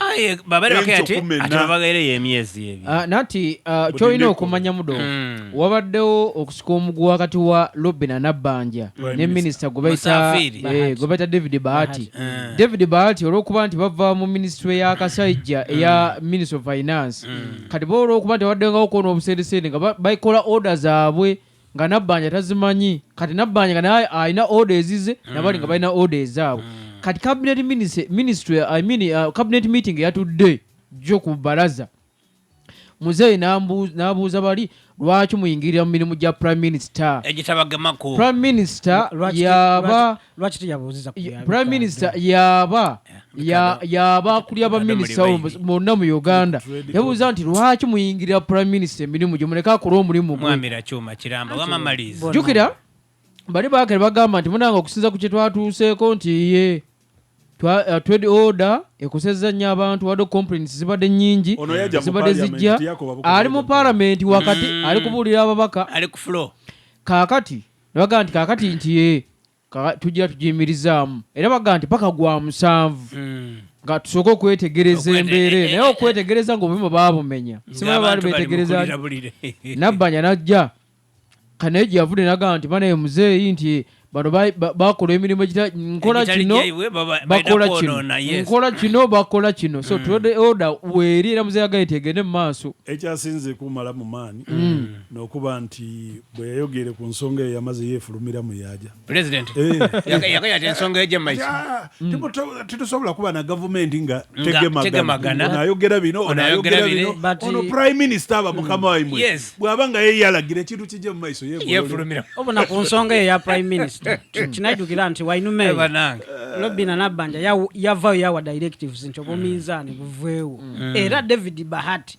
aye babere bakati ati babagere yemyezi ebyo ah, nati ah, kyolina okumanya mudo hmm. wabaddewo okusika omugu wakati wa lobina nabbanja ne minisita gwebaita eh, david bahati hmm. david bahati olwokuba nti bava mu minisitule ya kasajja hmm. eya ministry of finance kati bo olwokuba nti wabaddengawo kwona obusendeseende nga baikola order zaabwe nga nabbanja tazimanyi kati nabbanja nga naye alina oda ezize mm. nabali nga balina oda ezaabwe mm. kati cabinet ministry i mean uh, cabinet meeting yatudde jjo ku balaza muzeeyi n'abuuza bali lwaki muyingirira mu mirimu gya prime minister prime minister yaba lwaki teyabuuziza prime minister yaba yaba akulya baminisita bonna mu uganda yabuuza nti lwaki muyingirira prime minister emirimu gye muleke akole omulimu gwejukira bali bakere bagamba nti munanga okusinza ku kyetwatuuseeko nti ye uh, twed order ekosezza nnyo abantu wadde complaints zibadde nyingi zibadde zijja ali mu palamenti wakati mm. ali kubuulira ababaka kakati ne bagamba nti kaakati nti ye tujja tugiyimirizaamu era bagamba nti paka gwa musanvu hmm. nga tusooke okwetegereza embeera eh, eh, naye eh, okwetegereza ngaobuyuma baabumenya simaba baali betegereza nabbanja najja kanaye gye yavudde nagamba nti banaye muzeeyi nti bano bakola emirimu nkola kino bakola kino nkola kino bakola kino so hmm. tulode oda weeri era muzeeyi agaye tegende mu maaso ekyasinze kumala mu maani hmm. nokuba nti Bwe yayogeere ku nsonga eyo yamaze yeefulumira mu yaaja. Pulezidenti eh. yagaya ati ensonga egye maiki tetusobola kuba na gavumenti nga tegemagana onayogera bino onayogera bino ono prime minister aba mukama waimwe bw'aba nga ye yalagira ekintu kijje mu maiso yeefulumira obona ku nsonga eyo ya prime minister kinajjukira nti wainumeyo lobina nabbanja yavayo yawa directives nti obuminzaani buveewo mm. era david bahati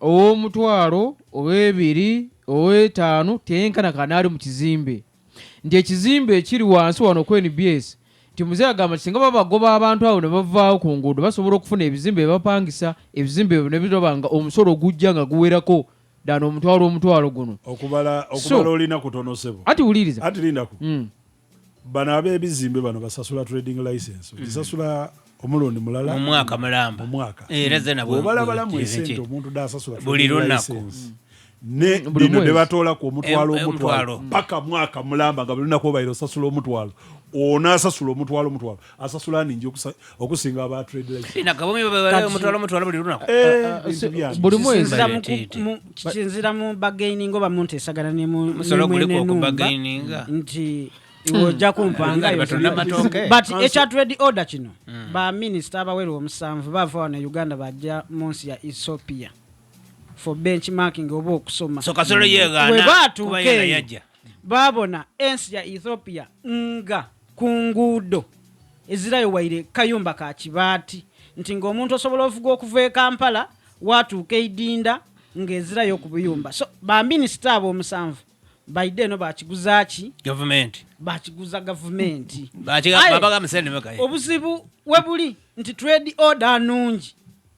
ow'omutwalo ow'ebiri ow'etaano teyenkana kanaali mu kizimbe nti ekizimbe ekiri wansi wano ku nbs nti muzeeyi agamba nti singa babagoba abantu abo ne bavaawo ku nguudo basobola okufuna ebizimbe bye bapangisa ebizimbe ebyo ne biraba nga omusolo ogujja nga guwerako ddala omutwalo omutwalo guno okubala So- okubala olina kutono sebo ati wuliriza ati lindako mm. Bano ab'ebizimbe bano basasula trading license okisasula mm. omulundi mulala mu mwaka mulamba mu mwaka eh, era zena bwe balabalamu esente omuntu dasasula buli lunaku mm. ne mm, bino ne batoola ku omutwalo omutwalo paka mwaka mulamba nga buli lunaku obaire osasula omutwalo onaasasula omutwalo omutwalo asasula ningi okusinga aba trade license ina kabumi babale omutwalo omutwalo buli lunaku eh, ah, ah, ah, buli mwezi kisinzira mu bagaining oba mu nteesagana ne mu musolo guliko okubagaininga nti hmm. ojja kumpanga but ekya trade order kino hmm. ba minisita abawera omusanvu bava wano e uganda bajja mu nsi ya ethiopia for benchmarking oba okusoma so kasolo yegaana bwe baatuuka eyo Baabona ensi ya Ethiopia nga ku nguudo ezirayo waire kayumba ka kibaati nti ng'omuntu osobola ovuga okuva e Kampala waatuuka eidinda ng'ezirayo ku buyumba so baminisita abo omusanvu baide eno bakiguzaaki gavumenti bakiguza gavumenti obuzibu webuli nti trade order nungi